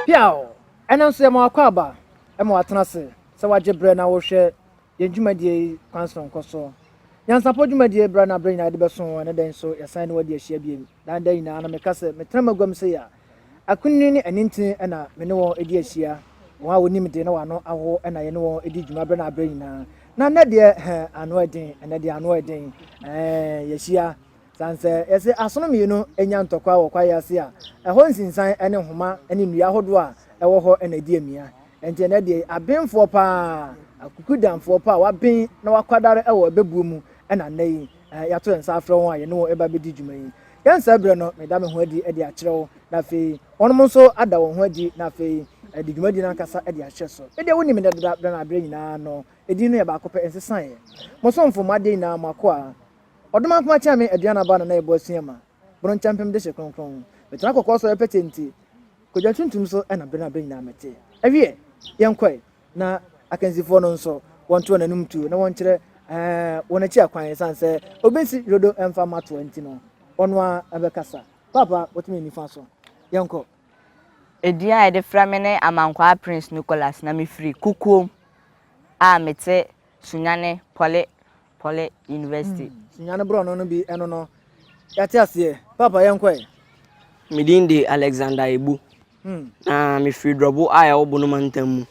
Piaw! Ɛno nso yɛma w'akwaaba ma watena ase sɛ wagye berɛ na worehwɛ yɛn dwumadie yi kwan sononko so. Nyansapɔ dwumadie berɛ na berɛ nyinaa yɛde bɛso wo, ɛnɛ da yi nso yɛsan ne wo adi ahyia bio. Daa daa nyinaa na meka sɛ metena m'aguam sei a, Akunini ne anintini na me ne wɔn di ahyia, wɔn a wonim de na wɔn ano awo na yɛne wɔn di dwuma bere na bere nyinaa. Na nnɛ deɛ, hɛn ano yɛ den, ɛnnɛ deɛ ano yɛ den, ɛɛ, yɛahyia. Sane sɛ yɛse asono mmienu nya ntɔkwa wɔ kwaeɛ ase a, ɛhɔ nsinsan ne nhoma ne nnua ahodoɔ a ɛwɔ hɔ na ɛdi amia. Enti ɛnnɛ deɛ, abenfoɔ pa ara, Akukudanfoɔ pa a wɔaben na wɔakwadare wɔ abɛbuo mu na nnɛ yi, yɛato yɛn nsa afrɛ wɔn a yɛne wɔn reba abɛdi dwuma yi. Yɛn saa berɛ no, meda me ho adi de akyerɛ wo, na afei wɔnom nso ada wɔn ho adi, na afei de dwumadie no ankasa de ahyɛ so. Medeɛ wonim me dɛ dada, berɛ no ara berɛ nyinaa no, edin no yɛ baako pɛ, ɛnsesaeɛ. Mo somfo, mo adeɛ nyinaa, mo akoa. Ɔdom ankoma kyɛn me, aduan aba na na yɛbɔ asu yɛma. Bono nkyɛmpem dehye kronkron. Metena kɔkɔɔ so, ɛyɛ pɛtee nti, kwadwa tuntum so na berɛ no ara berɛ nyinaa mete. Ɛwiɛ, yɛnkɔe. na akansifoɔ no nso wɔnto wɔn anom tuo na wɔnkyerɛ ɛɛ wɔn akyi akwan san sɛ obi nsi dodo mfa mmatoa nti no ɔno a ɛbɛkasa paapa wɔtumi nifa so yɛnkɔ. Edin a yɛde frɛ me ne Amankwaa Prince Nicholas na mefiri Kukuom a mete Sunyani Pɔle Pɔle University. Sua no borɔno no bi ɛno no yɛate aseɛ. Papa yɛn kɔ ɛ. Me din de Alexander Ebu. Hmm. Na me firi Drɔbo a ɛwɔ Bono mantam mu.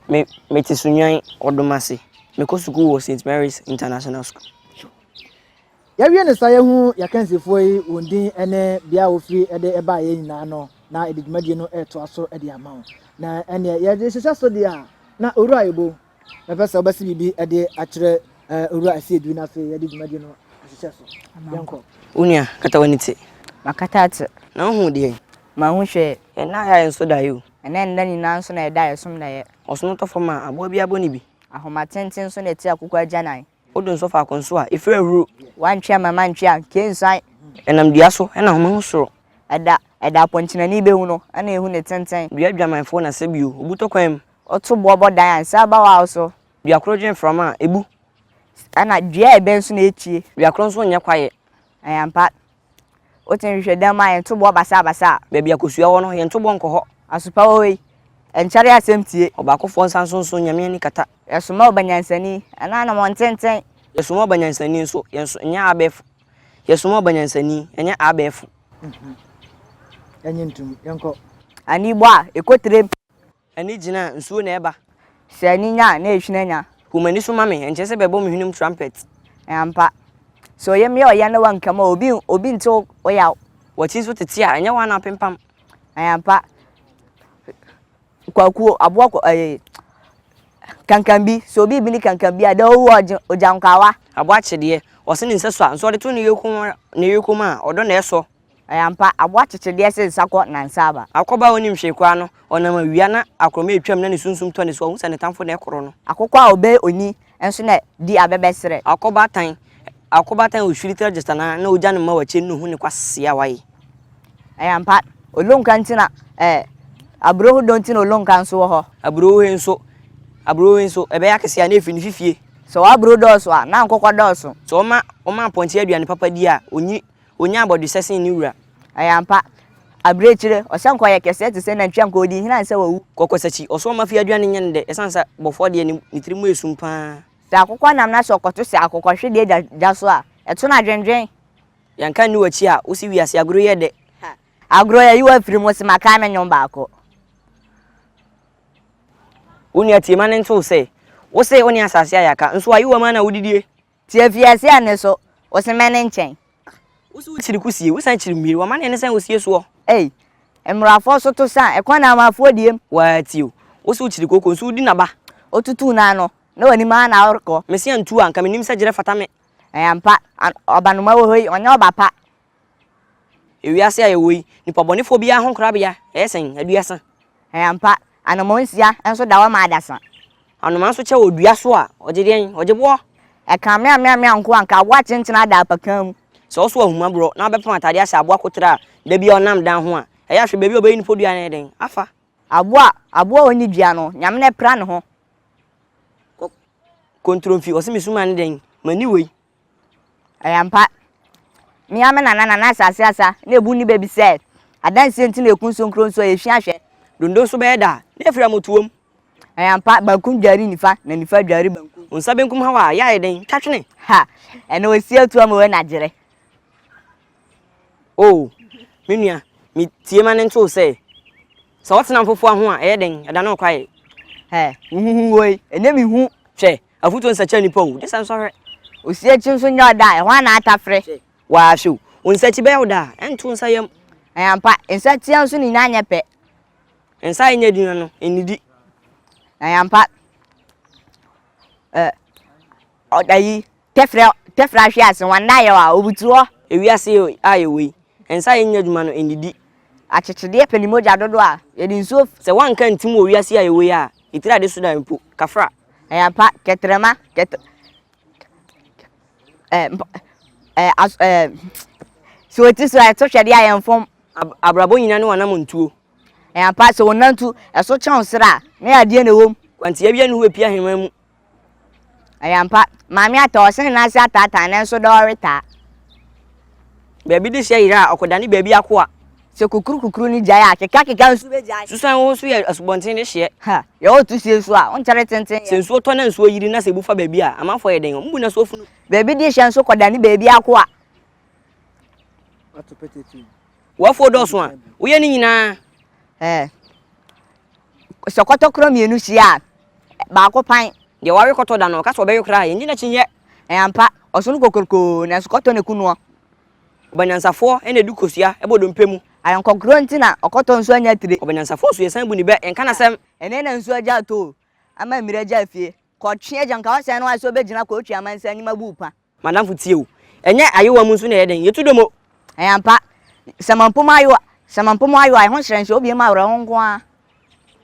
Me me te Sunwan Ɔdomase. Me kɔ sukuu wɔ St Mary's International School. Yɛwie ne sa yɛhu yɛkansifoɔ yi wɔn din ne bea a wɔfiri de ɛbaa yɛn nyinaa no na yɛde dwumadie no ɛretoa so de ama wo na ɛneɛ yɛde hyehyɛ so deɛ a na owura ebo Mɛpɛ sɛ wobɛsi biribi de akyerɛ Owura Asiedu na afei yɛde dwumadi no ahyehyɛ so. Yɛnkɔ. Wo nua, kata w'ani te. Makata ate. Na wohu deɛn? Mahu hwee. Yɛn nna ayɛ a yɛnsɔ daeɛ o. Ɛnɛ nna nyinaa nso na yɛda a yɛsom daeɛ. Ɔsom tɔ fam a, aboa biara bɔ ne bi. Ahoma tenten nso na ɛte akokɔ agyanan. Wodo nsɔ faako nso a, efiri ahuru. Woantwe amma mantwe a, nka ensuan. Ɛnam dua so na home ho soro. Ɛda, ɛda a pɔnkyenani behu no na ehu ne tenten. Dua adwamanfoɔ na sɛ bio, obu tɔ kwan mu. Ɔto boɔ bɔ dan a, nsa aba waw so. Dua koro dwe mframa a, ebu. Ɛna dua a ɛbɛn so na etie. Dua koro nso nyɛ kwaeɛ. Ɛyɛ ampa, Wote nhwehwɛdan mu a, yɛn toboɔ basaabasaa. Baabi a kosua wɔ no, yɛn toboɔ nkɔ hɔ. Asopa wɔ hɔ yi, ɛnkyɛre asɛm tie. Ɔbaakofoɔ nsa nso nso, Nyame ani kata. Yɛsoma ɔba nyansani, ɛno anamɔntenten. Yɛsoma ɔba nyansani nso, yɛn nso ɛnyɛ abɛɛfo. Yɛsoma ɔba nyansani, ɛnyɛ abɛɛfo. Ɛnyɛ ntom, yɛnkɔ. Ani bɔ a, ɛkɔ tirim. Ani gyina a, nsuo na ɛba. Sɛ ani nya a, na ehwini anya. Hu m'ani so ma me, ɛnkyerɛ sɛ bɛbɔ me hwenem trumpet. Ampa sɛ ɔyɛ me a ɔyɛ na wankam a, obi obi nte wo yaw. W'akyi nso tete a, ɛnyɛ wo ara na apempam. Ampa kwakuo, aboa kwa ɛɛ kankambi, sɛ obi bi ne kankambi a, dɛ owu a ɔgye ogyankwawa. Aboa kyedeɛ, ɔse ne nsa su a, nso ɔde to ne yoko ne yoko mu a, ɔdɔ na ɛsɔ. Ɛyɛ ampa, aboa kyekye deɛ se nsa kɔ na nsa aba. Akokɔba a ɔnnim hwee koraa no, ɔnam awia na akorɔma retwam na ne sunsum tɔ ne so a, ɔhu sɛ ne tamfo na ɛkorɔ no. Akokɔ a ɔbɛn oni nso na di abɛbɛserɛ. Akokɔba tan akokɔba tan ɔhwiri tra gyata nan na ɔgya no mma wakyɛ no na ɔhu ne kwasea a wayɛ. Ɛyɛ ampa, olonka nti na eh, aburoho dɔ nti na olonka nso wɔ hɔ. Aburoho he nso aburoho he nso, ɛbɛyɛ akɛseɛ a na ɛfiri ne fifie. Sɛ w'aburoho dɔɔso a, na nkokɔ dɔɔso. Sɛ ɔma ɔma apɔnkye aduane papa di a, ɔnyi Ɔnya abɔdwesɛ sen ne wura. Ɛyɛ ampa. Abirekyire, ɔsɛnkɔ yɛ kɛseɛ te sɛ nantwi anka ɔdi nhini ansa wawu. Kɔkɔsakyi, ɔso ɔma fie aduane nyɛ no dɛ ɛsiane sɛ bɔfoɔ deɛ ne tiri mu yɛ sum pa ara. Sɛ akokɔ nam na sɛ ɔkɔto hyɛ akokɔhwedeɛ gya so a, ɛto no adwendwen. Yɛnka nni w'akyi a, wo se wiase agorɔ yi yɛ dɛ. Agorɔ yi ayi wo afiri mu, wo se makae me nnwom baako. Wo nua tie ma no nto wo sɛ. Wo se wo ne asase ayɛ aka, nso ayewa mu ara na wodidie. Ti afiase a ne so, wo se mɛne nkyɛn. Wo se wo kyiri ku sie, wo san kyiri mhwiri, wɔ mane ne sɛn osie soɔ. Ei, mmrafoɔ so to sa, ɛkwan na amafoɔ diem. Waa ti o, wo se wo kyiri kooko nso wo di naba. Wo tutuu no ano, na wanim ara na worekɔ. Me se antu a, nka menim sɛ gyerɛ fata me. Ɛyɛ ampa, ɔba noma wɔ hɔ yi, ɔnyɛ ɔba pa. Wiase a yɛwɔ yi, nnipa bɔnefoɔ biara ho nkorabea yɛ sɛn? Aduasa. Ɛyɛ ampa. Anomaa nsia nso da hɔ ma adasa. Anomaa nso kyɛ wɔ dua so a, ɔgye deɛn? Ɔgye boɔ. Ɛka meameamea nko a, anka aboa kyenkyen ada apakaa mu. Sɛ ɔso ahumaborɔ na ɔbɛpam atadeɛ ahyɛ aboa koterɛ a, da biara ɔnam dan ho a, ɛyɛ a hwɛ baabi a ɔbɛyi ne podua no ayɛ dɛn? Afa. Aboa a aboa a ɔnni dua no, Nyame na apira ne ho. Kɔ, kɔntronfi, ɔse me su ma ne dɛn? M'ani wei. Ɛyɛ ampa. Me ara me nana, Nana Asase Asa, na ebu nni bɛ bi sɛ, adansie nti na ekun so nkuro nso ɛyɛ fi ahwɛ. Dondo nso bɛyɛ da a, na efiri amotuo mu. Ɛyɛ ampa, bankum dware nifa, na nifa dware bankum. Wo nsa benkum haw a, ɛyɛ a ɛyɛ den, twa twene. Ha! Ɛnna osi atua ma wei na gyere. Oo, me nua, me tie ma ne nto wo sɛ, sɛ wotena mpofowa ho a, ɛyɛ den, ɛda ne ho kwae. Hɛ, wo ho hu woi, ɛnyɛ me hu. Hwɛ, Afutuo nsa kya nipa o, gye sɛ nsɔhwɛ. Osi akyi nso nyɛ ɔda a, ɛhɔ ara na atafere. Hwɛ, waa hwɛ o, wo nsa akyi bɛyɛ wo da a, ɛnto nsa yam. Ɛyɛ ampa, nsa tia nso ne nyinaa nyɛ pɛ. Nsa a ɛnyɛ aduhwa no, nnidi. Ɛyɛ ampa, ɛ, ɔda yi, tɛfrɛ, tɛfrɛ ahwe ase, wɔn nna ayɛ wa, obutu hɔ. Ewiase a yɛwɔ yi, nsa a ɛnyɛ adwuma no, nnidi. Akyekyedeɛ pɛ ne mogya dodoɔ a, yɛde nsuo. Sɛ woanka ntim wɔ wiase a yɛwɔ yi a. Etire a yɛde so dan mpo, kafra. Ɛyɛ ampa, kɛtrɛma, kɛtr ɛɛ mpa ɛɛ as ɛɛ sɛ wɔte so a ɛto hwɛde a yɛn fam. Ab abrabɔ nyinaa ne w'anammɔntuo. Ɛyɛ ampa, sɛ wɔnantu ɛso kyɛn wo srɛ a, na yɛ adeɛ na ɛwom. Kwantiawia ne ho bɛpue ahemman mu. Ɛyɛ ampa. Maame ataa ɔsene no ase ataataa nanso dɛ ɔretaa. Baabi de hyɛ yera a, ɔkɔdane baabi akoa. Sɛ kukurukukuru no gyae a, akekaakeka nso begyae. Susuan wo ho so yɛ asubɔnten de hyeɛ. Ha, yɛ ɔreto sie nso a, wonkyɛre tenten yɛ. Sɛ nsuo tɔ na nsuo yiri na sɛ ebu fa baabi a, amanfoɔ yɛ dɛn? Wɔbu no so funu. Baabi de hyɛ nso kɔdane baabi akoa. W'afuo dɔɔso a, woyɛ ne nyinaa. Ɛɛ, sɛ kɔtɔkorɔ mmienu hyia a, baako pan. Deɛ wawe kɔtɔ da no, ɔka sɛ ɔbɛwe koraa a, yɛnnye n'akyinnyeɛ. Ɛyɛ ampa, ɔsono kokorokoo, nanso kɔtɔ na ɛku noɔ. Ɔbanyansafoɔ na ɛdu kosua bɔ dompe mu. Ayɔnkɔkorɔ nti na ɔkɔtɔ nso anya tire. Ɔbanyansafoɔ nso, yɛsan bu ne bɛ, yɛnka n'asɛm. Ɛnnɛ na nsuo agya atɔ o, ama mmire agya afie. Kɔtwe agya, nka w'asɛn no ara sɛ wobɛgyina kɔtwe amansan anim abu wo pa. M'adamfo tie o. Ɛnyɛ ayowa mu nso na ɛyɛ den, yɛtu dɔm o. Ɛyɛ ampa. Sɛ mampo mo ayowa, sɛ mampo mo ayowa, ɛho hyerɛn hyɛ obiam awerɛhow nko ara.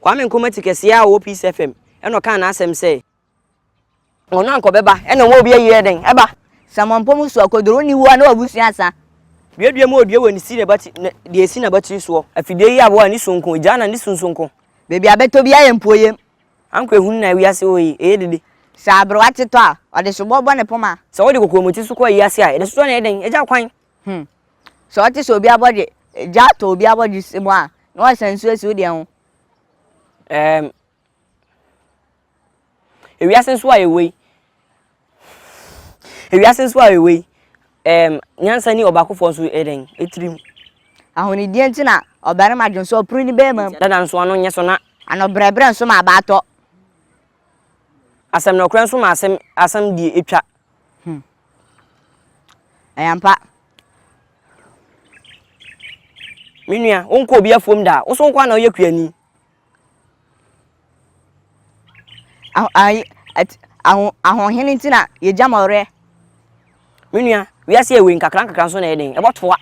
Kwame Nkrumah ti kɛseɛ a ɔwɔ Peace FM na ɔkaa n'asɛm sɛ. Ɔno anka ɔbɛba na ɔma obi ayie dɛn ɛba. Sɛ mampo mo suakoduro nni hɔ a na w'abusua asa. Duadua mu odua wɔ ne si n'abati na deɛ ɛsi n'abatiri soɔ. Afidie yi aboa ne su nko, gyaa na ne su nso nko. Baabi a bɛtɔ biara yɛ mpuoyɛm. Anko ehunu na wiase hɔ yi, eye dede. Sɛ aberewa te tɔ a, ɔde soboɔ bɔ ne poma. Sɛ wode kokoamoti so kɔ ayi ase a, yɛde soɔ na ɛyɛ dɛn? Agya kwan. Hmm. Sɛ ɔte sɛ obi abɔdwe, gya atɔ obi abɔdwe se mu a, na wasa nsuo asi wo deɛ ho. Ɛɛm. Ewiase nso a yɛwɔ yi. Ewiase nso a yɛwɔ yi, ɛɛm nyansa ni ɔbaakofoɔ nso yɛ dɛn? Etirim. Ahonidie nti na ɔbarima dwen sɛ ɔpere ne bɛrima mu. Dada nso ano nyɛ so na. Anobrɛbrɛ nso ma abaa tɔ. Asɛm nokorɛ nso ma asɛm asɛm die etwa. Hmm. Ɛyɛ ampa. Me nua, wonkɔ obi afuom da a, wo so nko ara na woyɛ kuani. Aho ayi ɛt aho ahoɔhene nti na yɛgya ma ɔwerɛ. Me nua, wiase yɛ wei nkakrankakra nso na ɛyɛ den, ɛbɔtoa.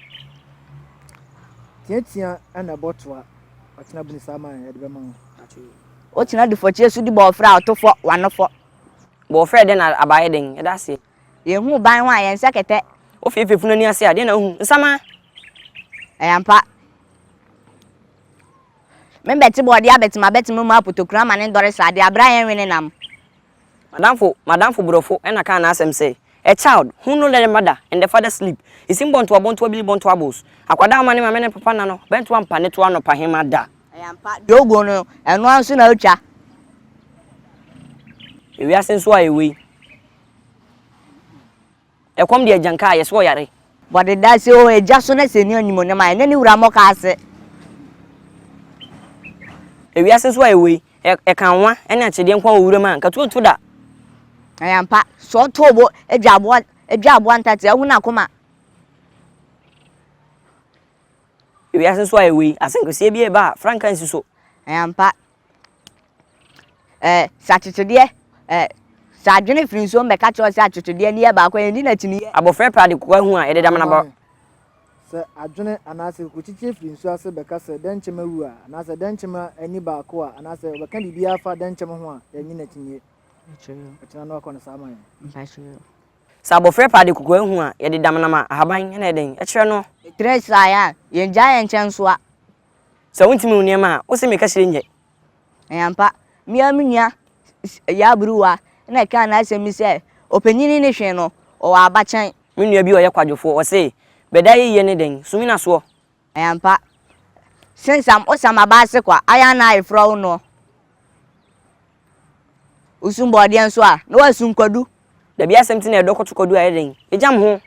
Teatea na ɛbɔtoa. Ɔkyena buni saa man yɛde bɛma wo. Ɔkyena dufɔkyeɛ so di bɔɔfrɛ a ɔto fɔ, wano fɔ. Bɔɔfrɛ dɛn na aba yɛ den, ɛda aseɛ. Yɛhu ban ho a yɛnsɛ kɛtɛ. Wofee fefunu ani ase a, deɛ na wohu? Nsamaa. Ɛyɛ ampa. Mebɛtse bɔɔde abɛtse mabɛtse mo mu apotokura ama ne ndɔre srade aber a yɛnnwe ne nam. M'adamfo, m'adamfo borɔfo na kaa n'asɛm sɛ, A child, who no let a mother and a father sleep, is in bɔntoa bɔntoa bili bɔntoa bos, akwadaa mma ne maame ne ne papa nna no, bɛnto ampa ne to anɔpahema da. Ɛyɛ ampa, deɛ oguo no, ɛno ara nso na otwa. Ewiase nso a ɛwɔ yi. Ɛkɔm de agyan kaa yɛ so ɔyare. Bɔde da ase o agya so na sɛ ni animonyam a ɛnɛ ne wura mɔ ka ase. Ewiase nso a yɛ wɔ yi ɛka nwa ɛne akyedeɛ nko a wɔ wuram a nka tuo nto da. Ɛyɛ ampa sɛ ɔtɔ obo adwa aboa adwa aboa ntate ahu na koma. Ewiase nso a yɛ wɔ yi asɛnkaseɛ bi ɛba a frankaa nsi so. Ɛyɛ ampa. Ɛɛ, sɛ akyekyedeɛ, ɛɛ, sɛ adwene firi nsuom bɛka kyerɛ sɛ akyekyedeɛ no yɛ baako, ɛndi n'akyiniiɛ. Abɔfra pira de kokoa hu a yɛde dam n'abɔ. Sɛ adwene anaasɛ kokokyikyi firi nsuo ase bɛka sɛ dɛnkyɛm awu a, anaasɛ dɛnkyɛm ani baako a, anaasɛ ɔbɛka biribiara fa dɛnkyɛm ho a, yɛnyi n'akyinniɛ. Ɔkyena no akɔ no saa ma yɛn. Sɛ abɔfra pira de kokoa hu a, yɛde dam nam a ahaban na ɛdɛn kyerɛ no. Ɛtrɛ saa a, yɛngyaa yɛn nkyɛn nsoa. Sɛ wontumi nwo nneɛma a, wose meka kyerɛ nyɛ. Ɛyɛ ampa, me ara me nua Yaa Buruwa na ɛkaa n'asɛm bi sɛ, Ɔpanyini ne hwee no, ɔwɔ abakyɛn. Me nua bi a ɔyɛ kwadwofoɔ, ɔse, Bɛda ayeyie ne dɛn? Sumina soɔ. Ɛyɛ ampa, Sensam, Osam Abaase Kwa, Ayanna Ayeforɔ wo noɔ. Wosum bɔɔdeɛ nso a, na wasum kwadu. Dabi asɛm ti na ɛdɔ koto kwadu a ɛyɛ dɛn? Ɛgyam ho.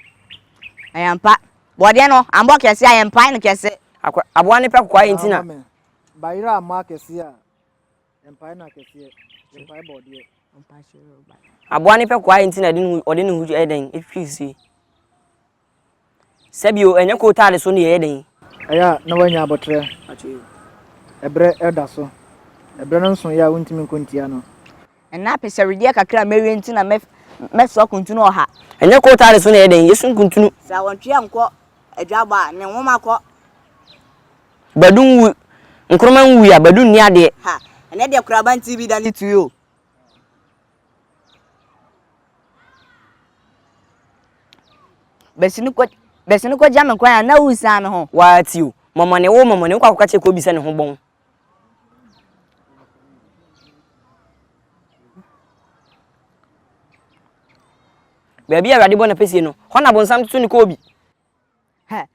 Ayɛmpa. Bɔɔdeɛ no ambɔ kɛse a yɛmpae no kɛse. Akwa, aboa no pɛ kokoa ayɛ nti na. Baama me. Bayerɛ ammɔ akɛseɛ a yɛmpae no akɛseɛ. Yɛmpae bɔɔdeɛ. Aboa no pɛ kokoa ayɛ nti na ɔde ne ho, ɔde ne ho ɛyɛ dɛn? Ɛtwitwi firi. Sɛbio, ɛnyɛ kootaade so nneyɛeɛ den. Ɛyɛ a na woanya aboterɛ ɛberɛ reda so. Ɛberɛ no nsoeɛ a wontumi nko ntia no. Ɛnnɛ apɛsɛwedeɛ kakra a mɛwie nti na mɛsoa kuntunu ɔha. Ɛnyɛ kootaade so nneyɛeɛ den, yɛsu nkuntunu. Sɛ awɔntweɛ nkɔ adwabɔ a, ne nwoma kɔ. Badu nwu, nkroma nwui a, Badu nni adeɛ. Ha, ɛnnɛ deɛ koraba nti bi da ne tui o. Bɛsi no kɔ bɛsi no kɔgya me kwan a na woresan me ho. Waati o, mɔmɔne wo mɔmɔne wokɔ akɔka kyerɛ Kobi sɛ ne ho bɔn. Baabi a Awurade bɔ n'apɛsie no, hɔ na bonsam toto ne Kobi. Hɛ,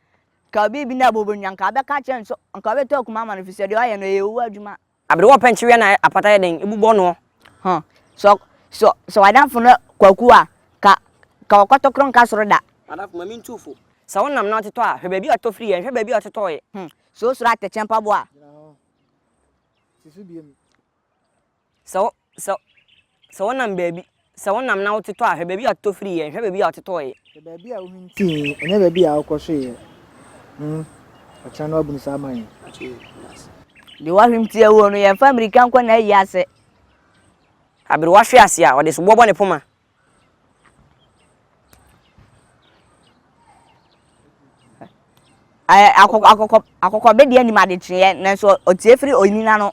nka obi bi na bobo nnua, nka wobɛka akyerɛ no sɛ nka wobɛtɔ akuma ama no, ɛfiri sɛ deɛ ɔyɛ no, ɛyɛ owuo adwuma. Aberewa ɔpɛ nkyeweɛ na apata yɛ dɛn bubɔ noɔ. Huh sɛ sɛ sɛ w'adamfo no kwaku a ka ka ɔkɔtɔkorɔ nka soro da. M'adamfo ma me ntu fo. Sɛ wo nam no atotɔ a hwɛ baabi a ɔtotɔ firi yɛ nhwɛ baabi a ɔtotɔɔ yɛ. Hmm sɛ osuro atɛkyɛ mpaboa a. Gyina hɔ si so biem. Sɛ wo sɛ. Sɛ wonam baabi, sɛ wonam na wotetɔ a, hwɛ baabi a wototɔ firiiɛ, nhwɛ baabi a wototɔeɛ. Hwɛ baabi a wohintiiɛ, ɛnyɛ baabi a wokɔhweeɛ. Hmm, ɔkyena no wabunu saa ama yɛn. Deɛ wahwem tia wuo no, yɛmfa mmirika nkɔ n'ayi ase. Aberewa hwe ase a, ɔde soboɔ bɔ ne poma. Akɔkɔbedeɛ nim adekyeeɛ, nanso ɔtie firi onini ano.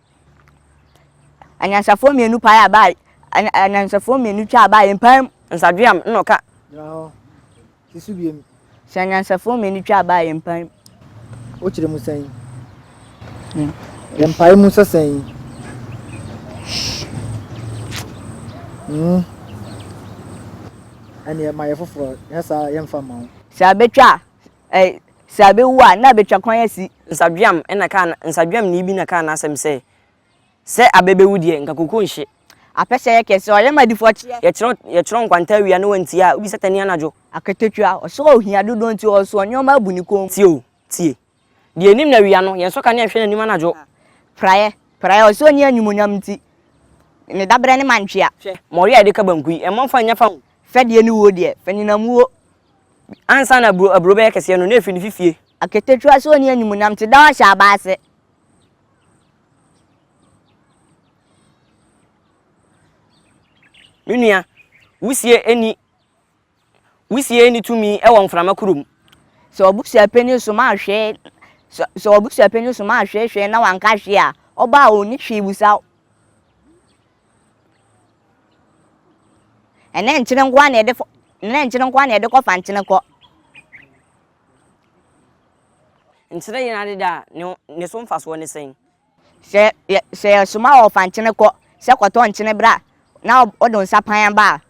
Anyansafoɔ mmienu pae a baa anyansafoɔ mmienu twa a baa yɛn paa mu. Nsadweam na ɔka. Gyina hɔ. Si so biem. Sɛ anyansafoɔ mmienu twa a baa yɛn paa mu. Wokyerɛ mu sɛn? Hmm. Yɛn pae mu sɛ sɛn? Hmm. Ɛne ma yɛ foforɔ. Yɛ saa yɛmfa ma wo. Sɛ abɛtwa a, Ɛɛ, sɛ abewu a, na abetwa kwan asi. Nsadweam na kaa na, nsadweamni bi na kaa n'asɛm sɛ, Sɛ abɛ bewu deɛ, nka koko nhye. Apɛ sɛ ɛyɛ kɛse, ɔyɛ ma adifoɔ kyeɛ. Yɛkyerɛ, yɛkyerɛ nkwanta awia na wantie a, wobisa tani anadwo. Akatakua, ɔsɛ ohia dodoɔ nti ɔsoɔ nneɛma abu ne kɔn mu. Tie o, tie. Deɛ anim na awia no, yɛnsɔ kanea nhwɛ n'anim anadwo. Praeɛ, praeɛ, ɔsɛ ɔnni animuonyam nti ne dabrɛ ne mantwea. Hwɛ, mɔre a yɛde ka banku yi, ɛmmɔ mfa nnya fa ho. Fɛdeɛ ne wuo deɛ, fanyinam wuo. Ansa na aburo aburo bɛyɛ kɛseɛ no, na ɛfiri ne fifie. Aketekyua so nni animuonyam te da ɔhyɛ aba ase. Me nua, wusie nni wusie nni tumi wɔ mframa koro mu. Sɛ ɔbusua panyin som a hwee sɛ sɛ ɔbusua panyin som a hwee hwee na wanka hwee a, ɔba a onni hwee busa wo. Ɛnɛ nkyene nkoa na yɛde fɔ ɛnɛ nkyene nkoa na yɛde kɔ fa nkyene kɔ. Nkyene yɛn adeda a ne ne so mfasoɔ ne sɛn? Sɛ yɛ sɛ yɛsoma wɔ fa nkyene kɔ sɛ kɔtɔ nkyene bra na ɔde nsa pan ba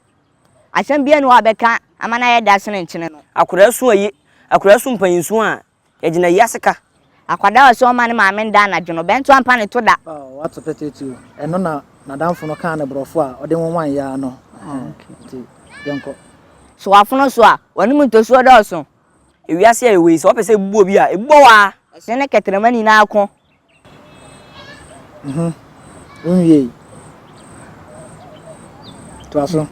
a, asɛm biara ni hɔ a ɔbɛka ama no ayɛ da sene nkyene no. Akwadaa su a ye akwadaa su mpanyin su a Yɛgyina yi ase ka. Akwadaa a ɔsɛ ɔmma ne maame nda anadwo no, bɛnto ampa ne to da. Oh, wato pɛtɛ tuo. Ɛno na n'adamfo no kaa no borɔfo a ɔde nwowan yɛ a no. Nti, yɛnkɔ. Sɛ wafono so a, w'anom ntosuo dɔɔso. Ewiase a yɛwɔ yi, sɛ wɔpɛ sɛ ebubu obi a, ebubu wo ara. Ɛhyɛn ne kɛtrɛma nyinaa ko. Mhm. Wonwiei. Toa so.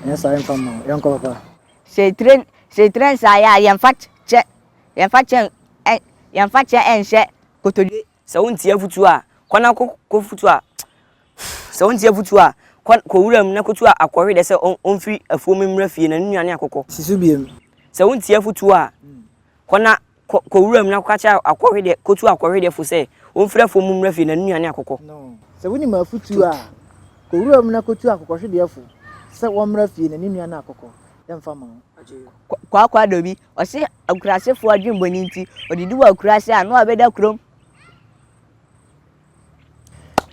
Ɛnyɛ saa yɛmfa mma wo. Yɛnkɔ, papa. Sɛ etire sɛ etire nsa yɛ a, yɛmfa kyɛ yɛmfa kyɛ ɛ yɛmfa kyɛ nhyɛ kotodwe. Sɛ wontie afotuo a, kɔ na ko kɔfotuo a Sɛ wontie afotuo a, kɔ kɔ wuram na kɔtu a akɔhwedeɛ sɛ ɔn ɔmfiri afuom mmra fie na ne nnuane akokɔ. Si so biom. Sɛ wontie afotuo a, kɔ na. Kɔ, kɔ wuram na kɔka kyerɛ akɔhwedeɛ, kɔtu akɔhwedeɛfoɔ sɛ wɔmfiri afuo mu mmra fie, na ne nnuane akokɔ. No. Sɛ wonim afotuo a, kɔ wuram na kɔtu akokɔhwedeɛfoɔ sɛ wɔmmra fie, na ne nnuane akokɔ. Yɛmfa mma wo. Kɔ, Kwaakwaadɔ bi, ɔse akurasefoɔ adwenbɔne nti, ɔdidi wɔ akuraase a, na wabɛda kurom.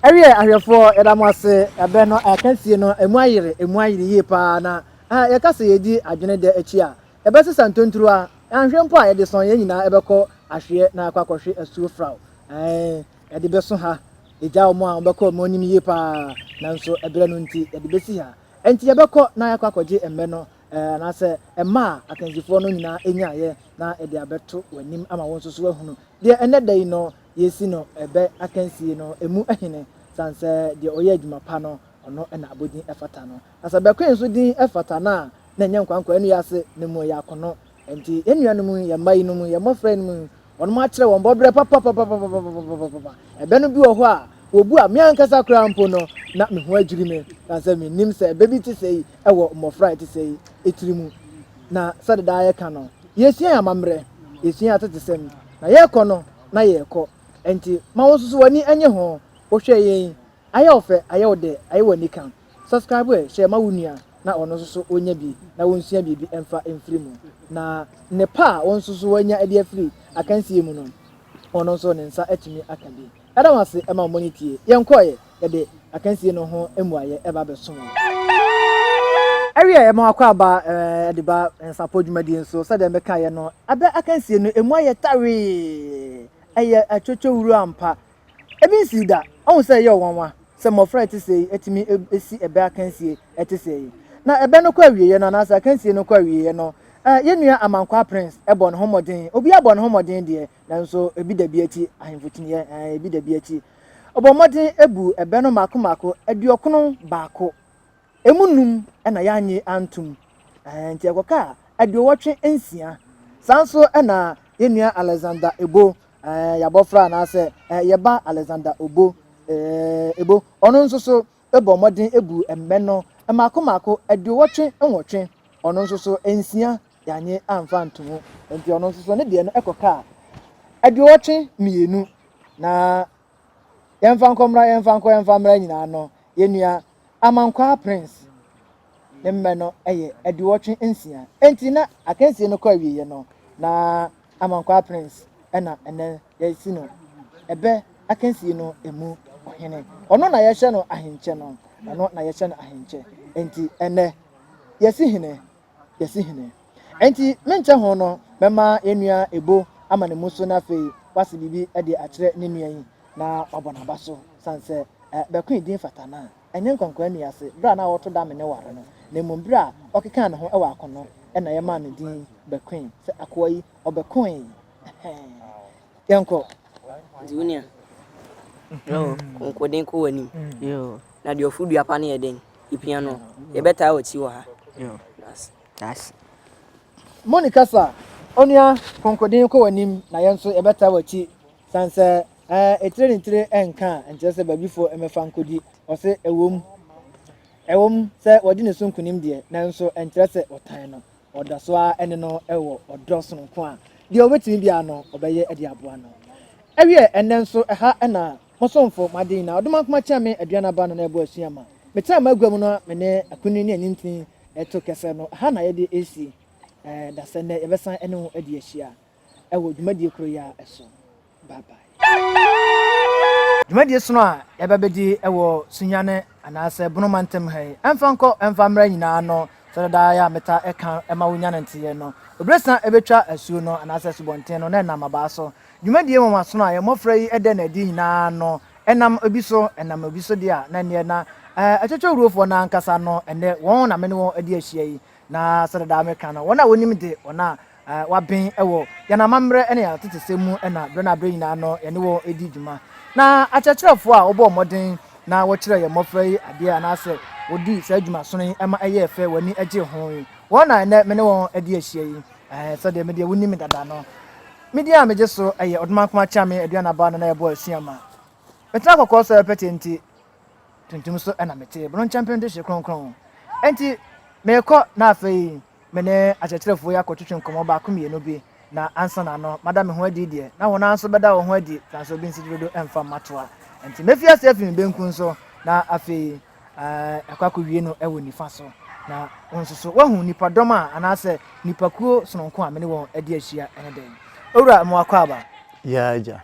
Ɛwiɛ ahwɛfoɔ yɛda mo ase ɛbɛ no akansie no ɛmu ayere ɛmu ayere yie paa na ah, yɛka sɛ yɛdi adwene dɛ akyi a ɛbɛsesa ntonturuwa anhwɛ mpo a yɛde sɔn yɛn nyinaa ɛbɛkɔ ahweɛ na akɔ akɔhwe asuo fraw ɛn ɛde bɛso ha ɛgya wɔn a wɔbɛkɔ wɔn anim yie paa nanso ɛberɛ no nti yɛde bɛsi ha ɛnti yɛbɛkɔ na yɛakɔ akɔgye mmɛ no ɛɛ anaasɛ ɛma a akansifoɔ no nyinaa ɛnyaeɛ na ɛde abɛto wɔn anim ama wɔn nso so ahunu deɛ ɛnɛ da yi no yesi no bɛ akansie no emu hene san sɛ deɛ ɔyɛ adwuma pa no ɔno na abɔdin fata no. Na sɛ bɛkoe nso din fata no a na ɛnyɛ nkoankoa ɛno yɛ ase no mu yɛ akono. Ɛnti yɛn nua nom yɛn mma yi nom yɛn mmɔfra yi nom wɔnom akyerɛ wɔn bɔbrɛ papapapapapapapapapapa. Ɛbɛ no bi wɔ hɔ a wɔbu a me ankasa koraa mpo no na me ho adwiri me san sɛ me nnim sɛ ɛbɛ bi te sei wɔ mmɔfra a ɛte sei tiri mu. Na sɛde daa yɛka no yɛsua yɛn amammerɛ yɛsua yɛn atetesɛm. Na yɛrekɔ no, na yɛrekɔ. Enti ma wo nso so w'ani nnye ho. Wohwɛ yɛn yi, ayɛ wo fɛ, ayɛ wo dɛ, ayɛ wo anika. Subscribe ɛ, hyɛ ma wo nua na ɔno nso so ɔnya bi na wonsua biribi mfa mfiri mu. Na nnepa a wo nso so woanya de afiri akansie mu no, ɔno nso ne nsa atumi aka bi. Yɛda mo ase ma mo ani tie. Yɛn kɔɔeɛ, yɛde akansie no ho mmuaeɛ ba bɛsom wo. Ɛwieɛ, yɛma w'akwaaba de ba nsapo dwumadie nso. Sɛdeɛ mekaeɛ no, ada akansie no ɛmu ayɛ tawee. Ɛyɛ atwotwowuro ampa. Ebi nsii da. Woahu sɛ ɛyɛ wo nwanwa sɛ mmɔfra a ɛte sei atumi asi ɛbɛ akansie ɛte sei. Na ɛbɛ no kɔ awieeɛ no anaasɛ akansie no kɔ awieeɛ no, yɛn nua Amankwaa Prince bɔ ne ho mmɔden. Obiara bɔ ne ho mmɔden deɛ, nanso ebi da bi akyi, ahemfo kyiniiɛ, ɛɛ, ebi da bi akyi. Ɔbɔ mmɔden ebu ɛbɛ no mako mako, aduɔkono baako. Emu num na yɛanye antum, ɛɛ, nti ɛkɔkaa aduowɔtwe nsia. Saa nso na yɛn nua Alexander Ebo, ɛɛ, yɛabɔfra anaasɛ, ɛɛ, yɛn ba Alexander Obo, ɛɛ, Ebo, ɔno nso so bɔ mmɔden ebu ɛbɛ no mako mako, aduowɔtwe nwɔtwe, ɔno nso so nsia Yɛannye amfa antom. Enti ɔno nso so ne deɛ no kɔkaa aduɔwɔtwe mmienu. Na yɛmfa nkɔ mmra, yɛmfa nkɔ, yɛmfa mmra nyinaa no, yɛn nua Amankwaa Prince ne mmɛ no yɛ aduɔwɔtwe nsia. Enti na akansie no kɔ awieeɛ no, na Amankwaa Prince na ɛnɛ yɛasi no ɛbɛ akansie no mu ɔhene. Ɔno na yɛhyɛ no ahenkyɛ no, ɔno na yɛhyɛ no ahenkyɛ. Enti ɛnɛ yɛasi hene. yɛse hene. Enti me nkyɛ ho no mɛma yɛn nua Ebo ama ne mu so na afei wase biribi de akyerɛ ne nua yi na wabɔ n'aba so sane sɛ eh, Bɛkoe din fata no a, ɛnyɛ Nkwankwaa nni ase berɛ a na ɔreto da me ne ware no, na mmom berɛ a ɔkekaa ne ho wɔ ako no na yɛmaa no din Bɛkoe, sɛ akoa yi ɔbɛkoe eh-hɛɛn. Yɛnkɔ. Nti wo nua, brɛ wo nkoden kɔ w'anim, na deɛ ɔforo dua pa no yɛ dɛn? Yɛpia no, yɛbɛtaa w'akyi wɔ ha. Daase. Moni kasa, Onua Konkoden kɔ w'anim na yɛn nso yɛbɛtaa w'akyi sane sɛ ɛɛ etire ne tire ɛnka a nkyerɛ sɛ baabifoɔ mmɛfa nkɔdi. Ɔse ɛwom ɛwom sɛ wadi ne so nkunim deɛ nanso ɛnkyerɛ sɛ ɔtan no. Ɔda so ara ne no wɔ ɔdɔ sononko a deɛ ɔbɛtumi biara no ɔbɛyɛ de aboa no. Ɛwiɛ ɛnnɛ nso ɛha na Mo somfo, m'aden, na ɔde m'akoma kyɛɛ me aduan aba no na ɛbɔ asu ama. Metraa m'agua mu no a me ne akunini ne anyintin reto kɛsɛ no, ɛha na yɛde resi dasɛ nnɛ. Yɛbɛsan ne wo adi ahyia wɔ dwumadie koro yi ara so. Bye bye. Dwumadie sono a yɛba abɛdi wɔ Sunyani anaasɛ Bono mantam ha yi, ɛmfa nkɔ ɛmfa mmra nyinaa no, sɛdeɛ daa yɛ a metaa ka ma wo nya no nteeɛ no, obirɛsan bɛtwa asuo no anaasɛ asubɔnten no na ɛnam abaa so. Dwumadie nwanwasono a yɛn mmɔfra yi da no adi nyinaa no, ɛnam obi so, ɛnam obi so deɛ a, na ɛnneɛ na atwitwawurofoɔ no ankasa no, ɛnnɛ, wɔn na me ne wɔn adi ahyia yi, na sɛdeɛ daa meka no, wɔn a wɔnim de, wɔn a wɔaben wɔ yɛn amammerɛ ne yɛn atetesɛm mu na berɛ no aberɛ nyinaa no, yɛne wɔn redi dwuma. Na akyerɛkyerɛfoɔ a wɔbɔɔ mmɔden na wɔkyerɛɛ yɛn mmɔfra yi adeɛ anaasɛ wɔdii saa dwumasono yi ma ɛyɛɛ fɛ, wɔn ani gyee ho yi, wɔn na ɛnnɛ me ne wɔn adi ahyia yi, sɛdeɛ me deɛ wonim me dada no. Me din a megye so yɛ Odomankoma Kyame Aduanaba Nana Yɛbɔ Asu Ama. Metena kɔkɔɔ so pɛtee nti tuntum so na mete, bono nkyɛmpem de hye kronkron. Enti merekɔ na afei me ne akyerɛkyerɛfoɔ yi akɔtwetwe nkɔmmɔ baako mmienu bi na ansa na ano mada me ho adi deɛ na wɔn ara nso bɛda wɔn ho adi, transo obi nsi gyerodo mfa mmatoa. Enti mɛfi ase afi me benkum so na afei. ɛɛ, ɛkɔ akɔwie no wɔ nifa so. Na wo nso so, woahu nnipadɔm a anaasɛ nnipakuo sononko a me ne wɔn adi ahyia ne dɛn? Owura Mmoakwaaba. Yaa, Agya.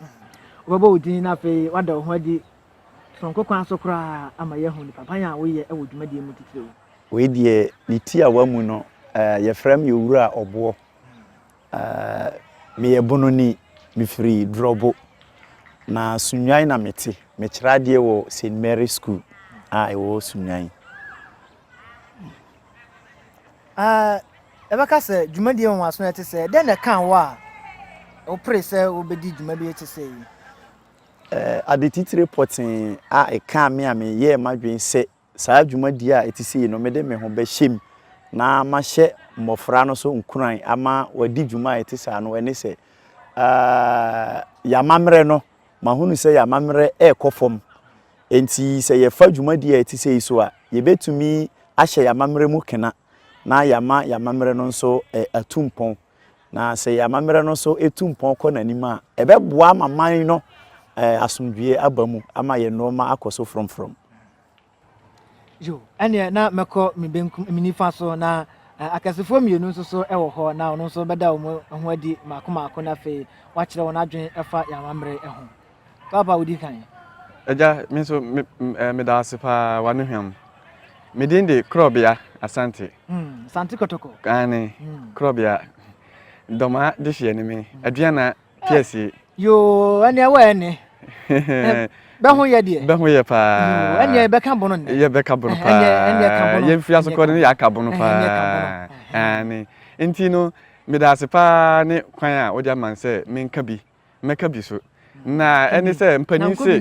Wobɛbɔ wo din na afei woada wo ho adi sononko kwan so koraa ama yɛahu nnipaban a woyɛ wɔ dwumadie mu titiriw. Wei deɛ, ne tiawa mu no, ɛɛ, yɛfrɛ me Owura Ɔboɔ. Eh, meyɛ Bononi, mefiri Drɔbo. Na Sunnwan na mete. Mekyerɛ adeɛ wɔ St. Mary School a ɛwɔ Sunnwan. Eh, yɛbɛka sɛ dwumadie nwanwaso ɛte sɛ dɛn na ɛkaa wo a wopere sɛ wobɛdi dwuma bi ɛte sɛ yi? Eh, ade titire pɔtee a ɛkaa me a meyɛɛ m'adwene sɛ saa dwumadie a ɛte sei no, mede me ho bɛhyɛ mu na mahyɛ mmɔfra no so nkuran ama wɔadi dwuma a ɛte saa no, ɛne sɛ, yɛn amammerɛ no, mahunu sɛ yɛn amammerɛ rekɔ fam. Enti sɛ yɛfa dwumadie a ɛte sei so a, yɛbɛtumi ahyɛ yɛn amammerɛ mu kena na yɛama yɛn amammerɛ no nso atu mpɔn. Na sɛ yɛn amammerɛ no nso tu mpɔn kɔ n'anim a, ɛbɛboa ama man no asomdwoeɛ aba mu ama yɛn nneɛma akɔ so frɔmfrɔm. Yo, ɛnneɛ na mɛkɔ me benkum, me nifa so, na akɛsefoɔ mmienu nso so wɔ hɔ, na ɔno nso bɛda wɔn ho adi mmaako mmaako, na afei wakyerɛ wɔn adwene fa yɛn amammerɛ ho. Paapa wodi kan. Agya, me nso me, eh, meda ase paa wano hwam. Me din de Krɔbea Asante. Hmm, Asante Kɔtɔkɔ. Kane, hmm. Krɔbea. Dɔmaa de hyeɛ ne me, hmm. aduana piɛsie. Yoo, ɛne ɛwɔ ɛne. Bɛho yɛ deɛ. Bɛho yɛ paa. Ɛne yɛbɛka bono nnɛ. Yɛbɛka bono paa. Yɛmfiri asokɔ no yɛaka bono paa. Ɛne, nti no, meda ase paa ne kwan a wode ama sɛ menka bi. mɛka bi so na ɛne sɛ mpanin se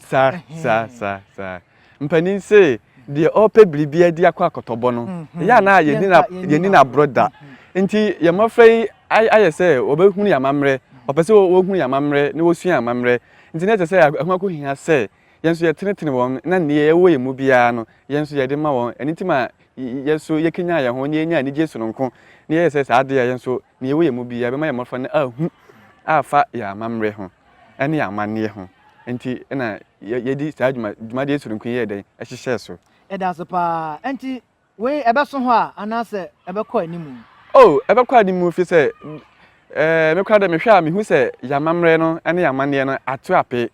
saa saa saa saa mpanin se deɛ ɔpɛ biribi adi akɔ akɔtɔbɔ no mhm. yɛ na yɛni no aborɔ da mhm. nti yɛn mmɔfra yi ayɛ sɛ wɔbɛhunu yɛn amammerɛ ɔpɛ sɛ wɔhunu yɛn amammerɛ na wɔsua yɛn amammerɛ nti na ɛkyɛ sɛ ɛho akɔhia sɛ yɛn nso yɛtenetene wɔn na nea ɛwɔ yɛn mu biara no yɛn nso yɛde ma wɔn ɛno nti ma yɛn nso yɛkenya yɛn ho na yɛnya anigye sononko na yɛyɛ sɛ saa adeɛ yɛn nso Nea ɛwɔ yɛn mu biara bɛma yɛn mmɔfra no ahu afa yɛn amammerɛ ho ne yɛn amanneɛ ho. Enti na yɛde saa dwuma, dwumadie soronko yi yɛɛ dɛn? Ɛhyehyɛɛ so. Ɛda ase paa. Enti wei ɛbɛso hɔ a anaasɛ ɛbɛkɔ anim? Oh, ɛbɛkɔ anim firi sɛ eh, me koraa dɛ mehwɛ a mehu sɛ yɛn amammerɛ no ne yɛn amanneɛ no ato apee.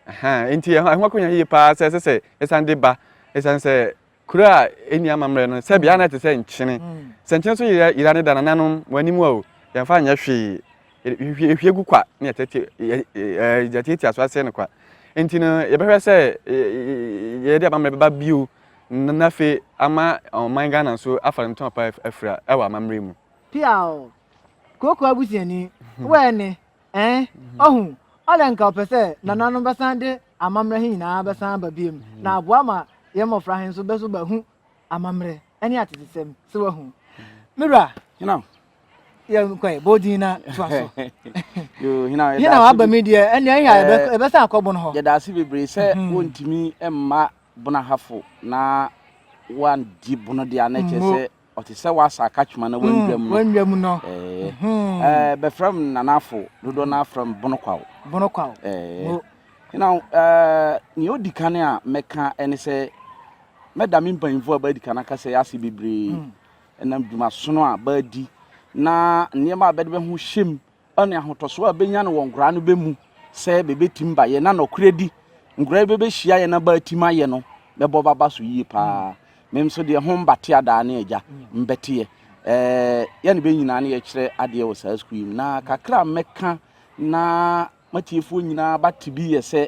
Aha, enti ɛho ɛho akɔnya yie paa sɛ ɛsɛ sɛ yɛsan de ba. Ɛsiane sɛ Kuro a ɛnni amammerɛ no, sɛbea na ɛte sɛ nkyene. Sɛ nkyene so yera yera no da nananom wɔn anim a o, yɛmfa nyɛ hwee. Yɛhwie yɛhwie gu kwa na yɛtɛte yɛ ɛɛ yɛtiatia so asɛe no kwa. Enti no, yɛbɛhwɛ sɛ yɛde amammerɛ bɛba bio na na afei ama ɔman Ghana nso afa ne ntɔn pa afira wɔ amammerɛ mu. Piaw, Kooko abusuani, wo ɛne, Ɛɛ, ɔho, ɔdɛ nka ɔpɛ sɛ nananom bɛsan de amammerɛ he nyinaa bɛsan aba biom, na aboa ma yɛ mmɔfra he nso bɛso bɛahu amammerɛ ne atetesɛm sɛ wahu. Me wura, yɛnkɔe, bɔ din na toa so. Hena waba mi deɛ, ɛnneɛ ɛyɛ a eh, yɛbɛsan akɔ bono hɔ. Yɛda ase bebree sɛ mhm. wontumi mma bono ahafo na wandi bono deɛ a na ɛkyɛ sɛ Ɔte sɛ w'asa akakyema na w'anwura mu no. W'anwura mu no. Ɛɛ bɛfrɛ m nanafo dodoɔ no afrɛ m bono kwaw. Bono kwaw. Ɛɛ na ɛɛ nea odi kan a mɛka ɛne sɛ mɛda me mpanyinfoɔ a bɛadi kan aka sɛ yɛase bebree ɛnam dwumasono a bɛadi na nneɛma a bɛde bɛho hyɛm ne ahotɔsoɔ a bɛnya no wɔ nkoraa no bɛmu sɛ bɛbɛtim ba yɛ na nɔkorɛdi nkoraa yi bɛbɛhyia yɛ na bɛatim ayɛ no bɛbɔ baba so yie paa mem nso deɛ ho mbate adaa ne agya mbɛteɛ ɛɛ yɛ ne bɛ nyinaa ne yɛkyerɛ adeɛ wɔ saa sukuu yi mu na kakra a mɛka na matiefoɔ nyinaa bate bi yɛ sɛ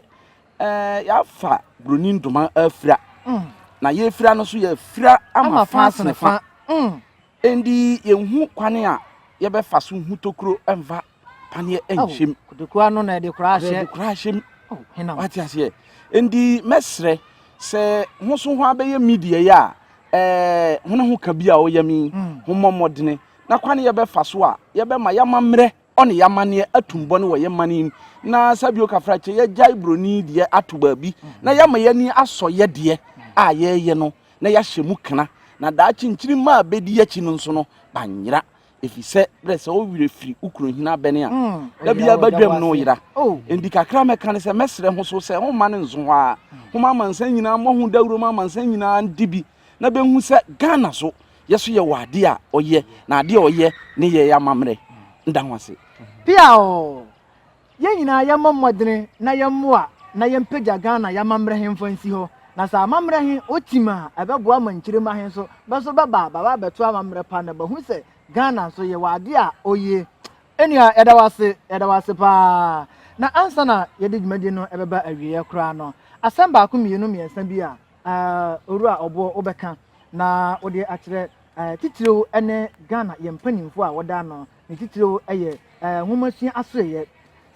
ɛɛ yɛafa buroni ndoma afira mm. na yɛfira no so yɛfira ama faase ne fa mm. Ɛnde yɛnhu kwane a yɛbɛfa so hu tokuro mfa paneɛ nhyɛm. Kotokuo ano na ɛde koraa hyɛ. Ɛde koraa hyɛm. Wate aseɛ. Ɛnde mɛsrɛ sɛ ho so ho abɛyɛ media yi a ɛɛ ho ne ho ka bi a ɔyɛ mi ho mmɔ mmɔdene na kwane yɛbɛfa so a yɛbɛma yɛama mmerɛ ɔne y'amanneɛ atum bɔne wɔ yɛ mane mu na sa bio kafra kyɛ yɛgyae broni deɛ ato baabi na yɛama y'ani asɔ yɛ deɛ a yɛyɛ no na yɛahyɛ mu kena na daakye nkyiri mma a bɛdi akyi no nso no banyera ɛfiri sɛ berɛ sɛ wo werɛ firi wo kunu hene abɛne a da biara badwam no yera enti kakra mɛka ne sɛ mɛsrɛ ho so sɛ homma no nso hɔ a homa amansan nyinaa mmɔ ho dawuro ma amansan nyinaa ndi bi na bɛhu sɛ Ghana so yɛ so yɛwɔ adeɛ a ɔyɛ na adeɛ a ɔyɛ ne yɛ amammerɛ nda ho ase. Pia oo, yɛn nyinaa yɛmmɔ mmɔdene na yɛmmoa na yɛmpagya Ghana yɛ amammerɛ he mfa nsi hɔ. Na sɛ amammerɛ he otim a, ɛbɛboa ma nkyirima he nso bɛ so bɛba a bɛaba abɛto amammerɛ pa na bɛahu sɛ Ghana nso yɛwɔ adeɛ a ɔyɛ. Nua, yɛda wo ase, yɛda wo ase pa ara. Na ansa na yɛde dwumadie no bɛba awieɛ koraa no, asɛm baako mmienu mmiɛnsa bi a Owura Oboh, wobɛka na wode akyerɛ titiriw ne Ghana yɛn mpanyimfo a wɔda ano ne titiriw yɛ nwomasua asoɛeɛ.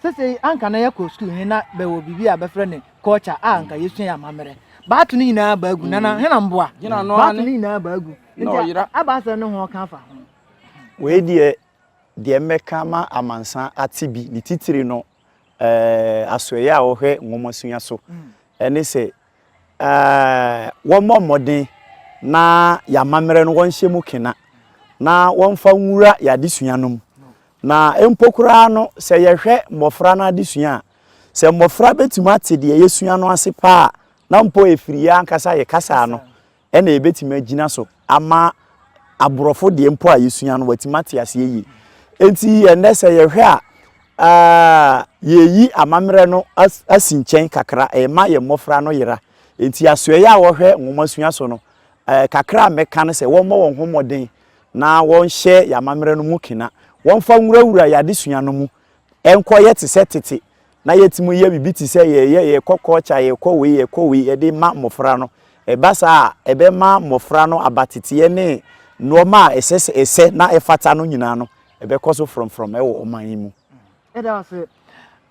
Sesei anka na yɛkɔ sukuu he na bɛwɔ biribi a bɛfrɛ no culture a anka yɛsua yɛ amammerɛ. Bɛato ne nyinaa aba agu, Nana Hena mboa. Bɛato ne nyinaa aba agu nti aba asɛm ne ho ɔka afa ho. Wei deɛ, deɛ mɛka ama amansan ate bi ne titiri no asoɛeɛ a wɔhwɛ nwomasua so ne sɛ wɔmmɔ mmɔden na yɛn amammerɛ no wɔnhyɛ mu kena na wɔmfa nwura yɛn adesua no mu. Na mpo koraa no, sɛ yɛhwɛ mmɔfra no adesua a, sɛ mmɔfra bɛtumi ate deɛ yɛsua no ase paa na mpo ɛfiri yɛn ankasa yɛ kasa no, Ɛna yɛbɛtumi agyina so ama aborɔfo deɛ mpo a yɛsua no wɔatumi ate aseɛ yie. Enti ɛnnɛ sɛ yɛhwɛ a, yɛyi amammerɛ no asi nkyɛn kakra, ɛma yɛn mmɔfra no yera. Enti asoɛeɛ a wɔhwɛ nwomasua so no, kakra a mɛka ne sɛ wɔmmɔ wɔn ho mmɔden na wɔnhyɛ yɛn amammerɛ no mu kena. Wɔmfa nwurawura yɛn adesua no mu, ɛnkɔyɛ te sɛ tete na yɛtumi yɛ biribi te sɛ yɛyɛ yɛkɔ kɔɔkya yɛkɔ wei yɛkɔ wei yɛde ma mmɔfra no ɛba saa a ɛbɛma mmɔfra no abateteɛ ne nnoɔma a ɛsɛ sɛ ɛsɛ na ɛfata no nyinaa no ɛbɛkɔ so frɔmfrɔm ɛwɔ ɔman yi mu. Ɛda ase.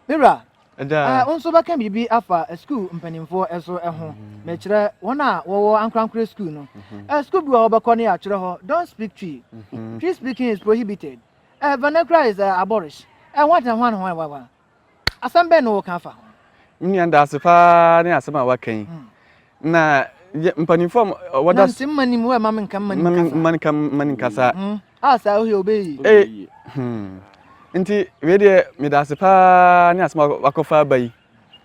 Me wura, eh, wo nso bɛka biribi afa sukuu mpanimfoɔ so ho. Mm-hmm. Mekyerɛ wɔn a wɔwɔ ankorankore sukuu no. Mm-hmm. Eh, sukuu bi wɔ hɔ bɛkɔ ne yɛatwerɛ hɔ, don't speak Twi. Mm-hmm. Twi speaking is prohibited. Eh, vernacular is eh, aborish. Eh, what and what and what, what, what. Asɛm bɛn na wɔka afa ho? Nua daase paa ne asɛm a waka yi. Hmm. Na mpanimfoɔ a wɔda. Na nsɛm ma nim wɔ ɛma me nka mma nim kasa. Mma nka mma nim kasa. Hmm. A saa ohe obeyi. Ee. Eh, hmm. Nti wei deɛ medaase paa ne asɛm a wakɔfa aba yi.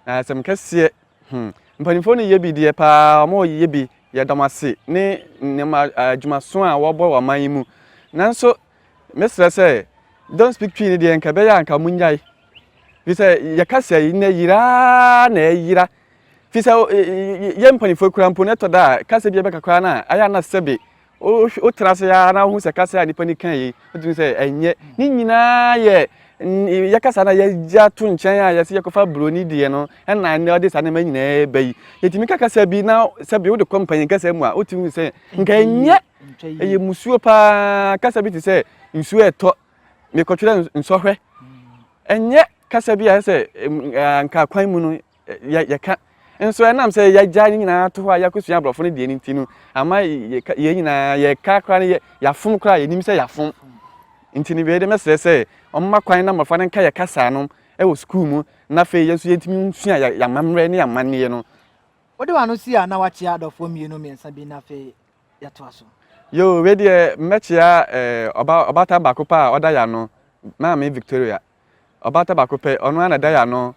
Na asɛm kɛseɛ. Hmm. Mpanimfoɔ no yɛ bi deɛ paa wɔn yɛ bi yɛdɔm ase ne nneɛma adwumaso a wɔbɔ wɔ aman yi mu. Nanso Mɛsrɛ sɛ don't speak twi no deɛ nka ɛbɛyɛ a nka monnyae fi sɛ yɛkasa yi na yira ara na ɛyera fi sɛ yɛ mpanimfoɔ kura mpo no ɛtɔ da a kasa bi ɛbɛka koraa no a ayɛ ana sɛbe wotena ase ara na wohu sɛ kasa a nnipa no ka yi wotumi sɛ ɛnyɛ ne nyinaa yɛ yɛkasa no a yɛgya to nkyɛn a yɛsɛ yɛkɔfa buroni deɛ no ɛna ɛnɛ ɔde saa nneɛma nyinaa ɛba yi yɛtumi ka kasa bi na sɛbe wode kɔ mpanyin kasa mu a wotumi hu sɛ nka ɛnyɛ Ɛyɛ mmusuo paa, kasa bi te sɛ nsuo a ɛtɔ mekɔtwerɛ nsɔhwɛ. Ɛnyɛ kasa bi a sɛ nka kwan mu no yɛka. Nso ɛnam sɛ yɛagya ne nyinaa to hɔ a yɛakɔsua aborɔfo no deɛ no nti no, ama yɛn nyinaa yɛka koraa no yɛafom koraa yɛnim sɛ yɛafom. Nti no wei de mɛsrɛ sɛ ɔmma kwan na mmɔfra no nka yɛ kasa no wɔ sukuu mu na afei yɛn nso yɛntumi nsua yɛamammerɛ ne amanneɛ no. Wode w'ano si a na woakyea adɔfoɔ mmienu mmiɛnsa bi na afei yɛtoa so. Yoo wei deɛ mɛkyea ɔba ɔbaatan baako pɛ a ɔda yano maame Victoria ɔbaatan baako pɛ ɔno ara na ɛda yano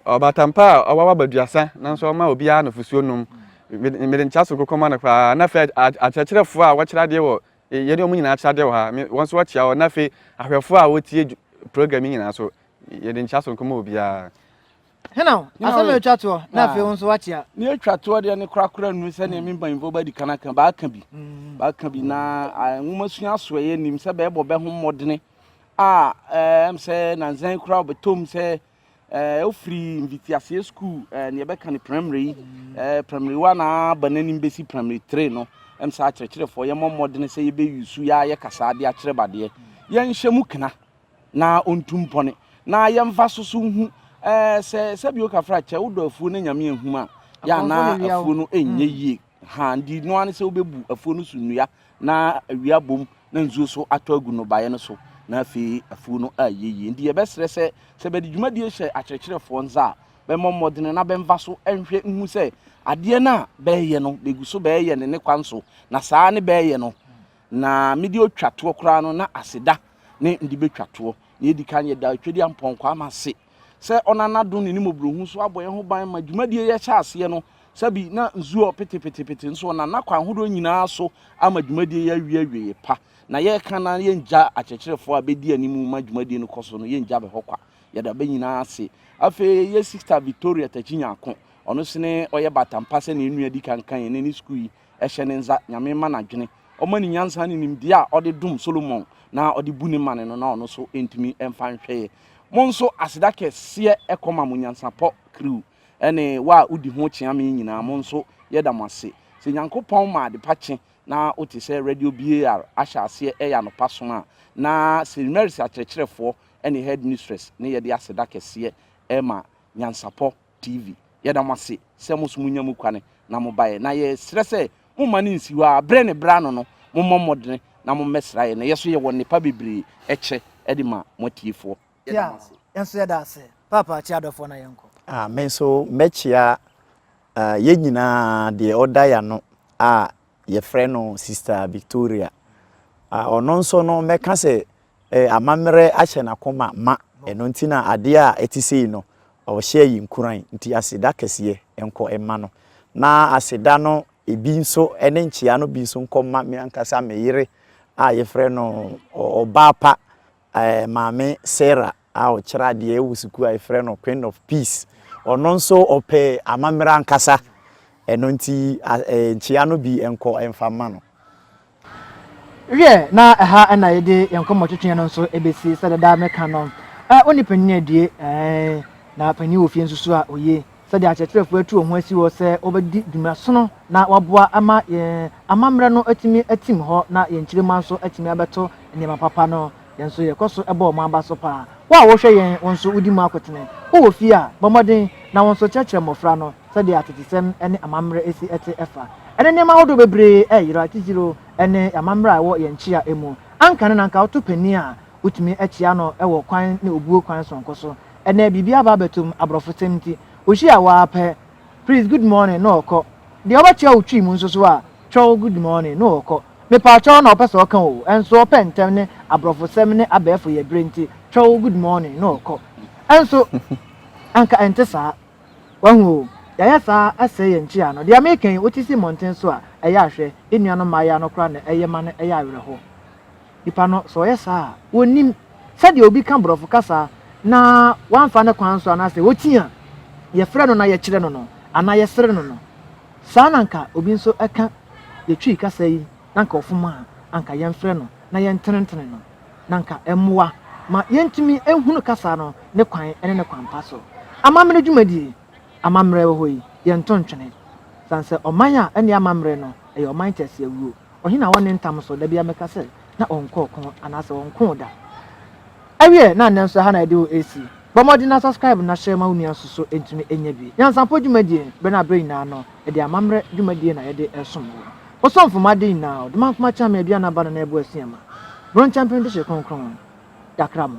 ɔbaatan pa a ɔwɔ abaduasa nanso ɔma obiara nufusuo nom mede nkyea so nkokɔ ma no paa na afei akyerɛkyerɛfoɔ a wɔkyerɛ adeɛ wɔ yɛne wɔn nyinaa kyerɛ adeɛ wɔ ha wɔn nso wɔkyea wɔn na afei ahwɛfoɔ a wɔtie program nyinaa so yɛde nkyea so nkɔma obiara. Hena o? Hena Asɛm a o? etwa toɔ, na Ah. afei wo nso woakyea. Nea etwa toɔ deɛ no korakora nnu sɛ nea me mpanyimfoɔ bɛdi kan aka. Bɛaka bi. Bɛaka bi na ah, nwomasua asoɛeɛ nim sɛ bɛrebɔ bɛ ho mmɔdene a eh, ɛm sɛ nansa yi koraa wɔbɛtɔm sɛ eh, wofiri mfitiaseɛ sukuu eh, nea ɛbɛka ne primary yi eh, primary one a aba n'anim bɛsi primary three no ɛm sɛ akyerɛkyerɛfoɔ yɛmmɔ mmɔdene sɛ yɛbɛyi su yɛ a yɛkasa adeɛ akyerɛ badeɛ yɛnhyɛ mu kena na ɔntu mpɔne, na yɛmfa so so nhu eh, sɛ sɛbi oka fra kyɛ wodɔ afuo na nyame ahum a yɛ anaa afuo no ɛnyɛ mm. yie ha ndi no ane sɛ wobɛbu afuo no so nnua na awia bom na nsuo so atɔ agu no baeɛ no so na afei afuo no ayɛ yie ndi yɛbɛserɛ sɛ sɛ bɛde dwumadie hyɛ akyerɛkyerɛfoɔ nsa a bɛmmɔ mmɔdene na bɛmfa so nhwɛ nhu sɛ adeɛ no a bɛɛyɛ no bɛgu so bɛɛyɛ ne ne kwan so na saa ne bɛɛyɛ no Na me deɛ ɔtwa toɔ koraa no na aseda ne mede bɛtwa toɔ. Nea ɛdi kan, yɛda Otwadeɛ Ampɔn Kwame ase sɛ ɔnam n'adom ne ne mmɔborɔhunu so abɔ yɛn ho ban ma dwumadie yi ahyɛ aseɛ no sɛbi na nsuo repete pete pete nso ɔnam n'akwan ahodoɔ nyinaa so ama dwumadie yi awie awieeɛ pa na yɛreka na yɛngya akyerɛkyerɛfoɔ a bɛdi anim ma dwumadie no kɔ so no yɛngya bɛ hɔ kwa yɛda bɛ nyinaa ase afei yɛ sista Victoria Takyi Nyako ɔno sene ɔyɛ batampa sɛnea nnua di kan kan yɛn ne sukuu yi hyɛ ne nza, Nyame ma no adwene, Ɔma no nyansa ne nimdeɛ a ɔde dom Solomon na ɔde bu ne mane no na ɔno so ntumi mfa nhwɛeɛ. Mo nso aseda kɛseɛ ɛkɔ ma mo nyansapɔ crew ne wo a wodi ho kyea me nyinaa mo nso yɛda mo ase. Sɛ Nyankopɔn ma adepa kye na wote sɛ Radio BAR ahyɛ aseɛ ɛyɛ anɔpa som a na St. Mary's akyerɛkyerɛfoɔ ne Headmistress ne yɛde aseda kɛseɛ ɛma nyansapɔ TV. Yɛda mo ase sɛ mo nso monya mu kwane na mobaeɛ, na yɛsrɛ sɛ momma no nsi hɔ ara. Berɛ ne berɛ ano no, mommɔ mmɔdene na mommɛsra yɛn. Yɛn nso yɛwɔ nnepa bebree kyɛ de ma mo atiefoɔ. Yɛda mo ase. Yɛn nso yɛda ase. Paapa, kyia adɔfoɔ na yɛnkɔ. Ah, me nso mɛkyia ah, yɛn nyinaa deɛ ɔda yɛn ano a yɛfrɛ no Sister Victoria. Ah, ɔno nso no mɛka sɛ eh, amammerɛ ahyɛ n'akoma ma, ɛno nti na adeɛ a ɛte sei no, ɔhyɛ yi nkuran, nti aseda kɛseɛ nkɔ mma no, na aseda no ebi nso ne nkyea no bi nso nkɔ mma me ankasa me yere a yɛfrɛ no ɔbaa pa eh, maame Sarah. a ɔkyerɛ adeɛ wɔ sukuu a yɛfrɛ no Queen of Peace. Ɔno nso ɔpɛ amammerɛ ankasa, ɛno nti nkyea no bi nkɔ mfa mma no. Wiɛ, na ɛha na yɛde yɛn nkɔmmɔtwetweɛ no nso bɛsi, sɛdeɛ daa meka no, wo ne panin adie, ɛɛe, na panin wɔ fie nso su a, oye. Sɛdeɛ akyerɛkyerɛfoɔ atu wɔn ho asi hɔ sɛ wɔbɛdi dwuma sono na wɔaboa ma yɛn amammerɛ no atumi atim hɔ na yɛn nkyirimma nso atumi abɛto nneɛma papa no, Yɛn nso yɛkɔ so bɔ wɔn aba so paa. Wo a wohwɛ yɛn, wo nso wudi mu akotene. Wowɔ fie a, bɔ mmɔden na wo nso kyerɛkyerɛ mmofra no sɛdeɛ atetesɛm ne amammerɛ si te ɛfa. Ɛnnɛ nneɛma ahodoɔ bebree reyera, titiriw ne amammerɛ a ɛwɔ yɛn nkyia mu. Anka ɛnnɛ na anka woto panin a, wotumi kyea no wɔ kwan ne obuo kwan soronko so. Ɛnnɛ biribi aba abɛtom, aborɔfosɛm nti. Wohyia wo ara pɛ, Please, good morning, na ɔkɔ. Deɛ wobɛkyea wo twi mu nso so a, Twɔw, good morning, na ɔkɔ. Mepaatwɔw na ɔpɛ sɛ ɔka o, nso ɔpɛ ntɛm ne aborɔfosɛm ne abɛɛfo yɛ bere nti, twɔw good morning na ɔkɔ. Nso anka ɛnte saa. Wahu o, yɛayɛ saa asɛe yɛn nkyia no. Deɛ meka yi, wote si mmɔnten so a, ɛyɛ a hwɛ, yɛn nuanom mmaayaa no koraa na ɛyɛ ma no yɛ awerɛhow. Nipa no, sɛ ɔyɛ saa a, onnim sɛdeɛ obi ka borɔfo kasa na wamfa ne kwan so anaasɛ oti a yɛfrɛ no na yɛkyerɛ no no anaa yɛsere no no, saa na anka obi nso ka. yetwii kasa yi na anka ɔfom a, anka yɛmfrɛ no na yɛntenetene no, na anka ɛmmoa ma yentumi nhunu kasa no ne kwan ne ne kwampa so. Amammerɛ dwumadie, amammerɛ wɔ hɔ yi, yɛnto ntwene. Sane sɛ ɔman a ɛnni amammerɛ no, ɛyɛ ɔman teaseawuo. Ɔhene a ɔnne ntam so, da biara meka sɛ, na ɔnkɔ ɔko anaasɛ ɔnkoo da. Ɛwiɛ na nnɛ nso ɛha na yɛde wo ɛsi. Bɔ mmɔden na subscribe na hyɛ ma wo nua nso so ɛntumi ɛnya bi. Nyansapɔ dwumadie, berɛ na berɛ nyinaa no, ɛde amammerɛ dwumadie na yɛde ɛsom wo. Ɔsomfo ma ade nyinaa ɔdom ankoma kyɛn me aduan aba no na ɛboa sua ma. Bronkyɛmpem dehye kronkron. Dakra mo.